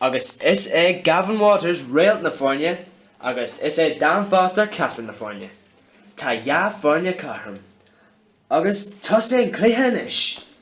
Agus is é Gavin Waters réalt na foirne agus is é Dan Foster captaen na foirne. Tá dhá foirne cothrom agus tosaíonn an cluiche anois.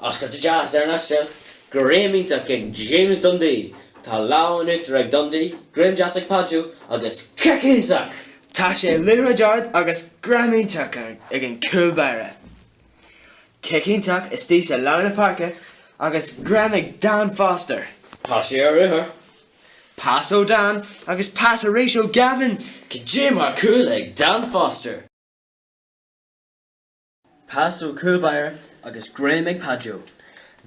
Oscailt deas ar an Astráil, greim iontach ag James Dundee, tá lámh in uachtar ag Dundee, greim deas ag Pajo agus cic iontach! Tá sé liathróid ard agus greim iontach ag an gcúl báire. Cic iontach istigh sa lár na páirce agus greim ag Dan Foster. Tá sé ar ruathar. Pas ó Dan agus pas arís ó Gavin. Cad é mar chúl ag Dan Foster. Pas ó chúl báire agus greim ag Pajo.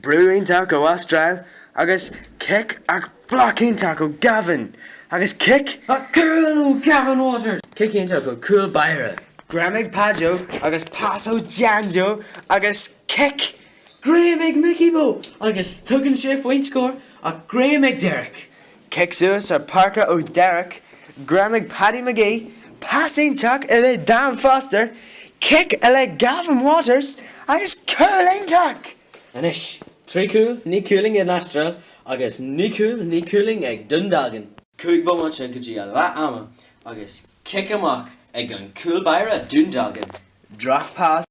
Brú iontach ó Astráil agus cic ach bloc iontach ó Gavin agus cic ach cúl ó Gavin Waters! Cic iontach ó chúl báire. Greim ag Pajo agus pas ó John Joe agus cic! Greim ag Mickey Mo agus tugann sé faoin scór ach greim ag Derek. Cic suas ar páirce ó Derek, greim ag Paddy McGee pas iontach i leith Dan Foster, cic i leith Gavin Waters agus cúl iontach! Anois, trí chúl, naoi cúilín ag an Astráil agus naoi gcúl, naoi cúilín ag Dún Dealgan. Cúig bhomaite go dtí a leath ama agus cic amach ag an gcúl báire Dún Dealgan. Drochphas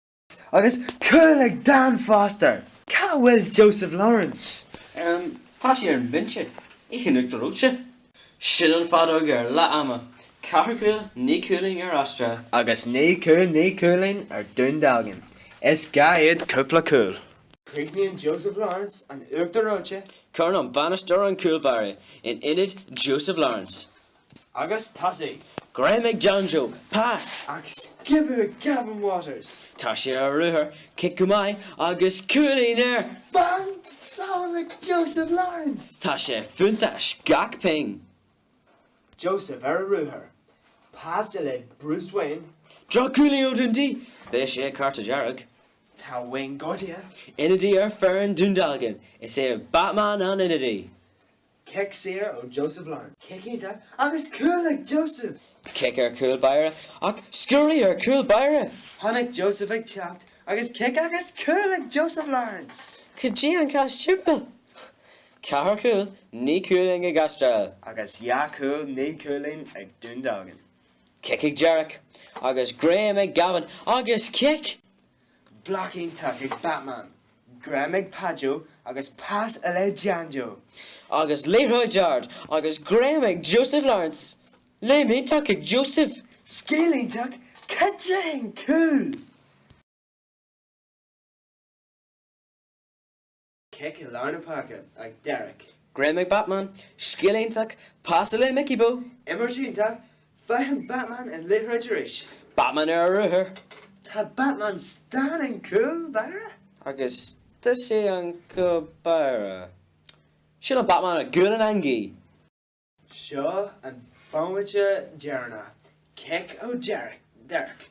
Agus cúl ag Dan Foster! Cá bhfuil Joseph Lawrence? Tá sé ar an bhinse ag ithe an uachtar reoite. Sin an feadóg ar leath ama. Ceathair chúl naoi cúilín ar Astráil. Agus naoi cúl naoi cúilín ar Dún Dealgan. Is gá iad cúpla cúl. Críochnaíonn Joseph Lawrence an uachtar reoite. Cuireann an bainisteoir an cúlbáire in ionad Joseph Lawrence. Agus tá sí. Greim ag John Joe, pas agus sciobadh ag Gavin Waters! Tá sé ar a ruathar, cic go maith agus cúilín air! Banc Salem ag Joseph Lawrence! Tá sé fiúntach, gach pingin! Joseph ar a ruathar. Pas i leith Bruce Wayne. Droch-uillinn ó Dundee! Beidh sé cárta dearg. Tá Wayne gortaithe. Ionadaí ar foireann Dún Dealgan. Is é Batman an ionadaí. Cic saor ó Joseph Lawrence. Cic iontach agus cúl ag Joseph! Cic ar chúl báire ach sciorradh ar chúl báire! Tháinig Joseph ag teacht agus cic agus cúl ag Joseph Lawrence! Cad é an casadh timpeall? Ceathair chúl, naoi cúilín ag Astráil. Agus dhá chúl, naoi chúilín ag Dún Dealgan. Cic ag Derek agus greim ag Gavin agus cic! Bloc iontach ag Batman, greim ag Pajo agus pas i leith John Joe! Agus liathróid ard agus greim ag Joseph Lawrence! Léim iontach ag Joseph! Scil iontach, cad é an cúl! Cé go leor na páirce ag Derek. Greim ag Batman, scil iontach, pas le Mickey Boo. Imirt iontach, faigheann Batman an liathróid arís. Batman ar a ruathar. Tá Batman istigh ar an chúl báire. Agus thar an chúl báire. Siúlann Batman an goal san eangaí. Seo an bomaite deireanach, Cic ó Derek,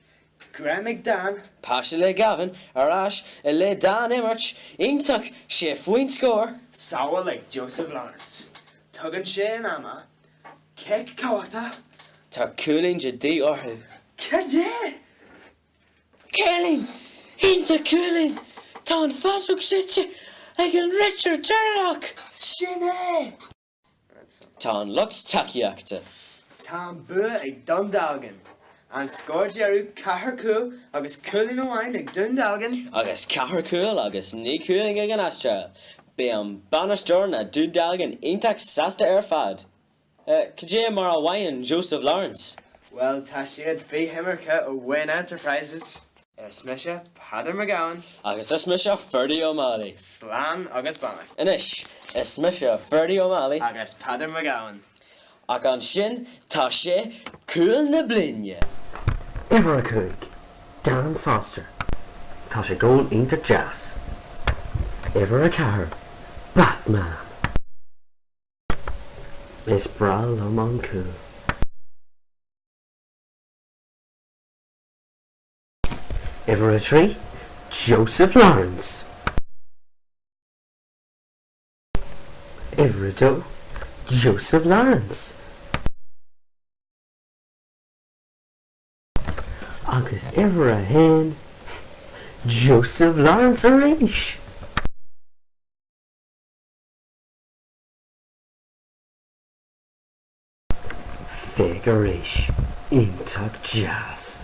greim ag Dan. Pas le Gavin ar ais le Dan imirt, iontach, sé faoin scór. Sábháil ag Joseph Lawrence, tugann sé amach, cic cumhachtach. Tá cúilín de dhíth orthu. Cad é? Cúilín! Iontach cúilín! Tá an fheadóg séidte ag an réiteoir Tarlach. Sin é! Tá an lucht tacaíochta. Tá an bua ag Dún Dealgan. An scór deireadh, ceathair cúl agus cúilín amháin ag Dún Dealgan. Agus ceathair cúl agus náid cúilín ag an Astráil, beidh an bainisteoir na Dún Dealgan iontach sásta ar fad. Cad é mar a mhothaíonn Joseph Lawrence? Bhuel, tá siad faoi choimirce ó Wayne Enterprises. Is mise Peadar McGowan. Agus is mise Ferdie O'Malley. Slán agus beannacht. Anois, is mise Ferdie O'Malley. Agus Peadar McGowan. Ach ansin, tá sé Cúl na Bliana! Uimhir a cúig, Dan Foster, tá sé goal iontach deas. Uimhir a ceathair, Batman! Is breá liom an cúl. Uimhir a trí, Joseph Lawrence. Uimhir a dó, Joseph Lawrence. Agus uimhir a haon, Joseph Lawrence arís. Figurish iontach deas.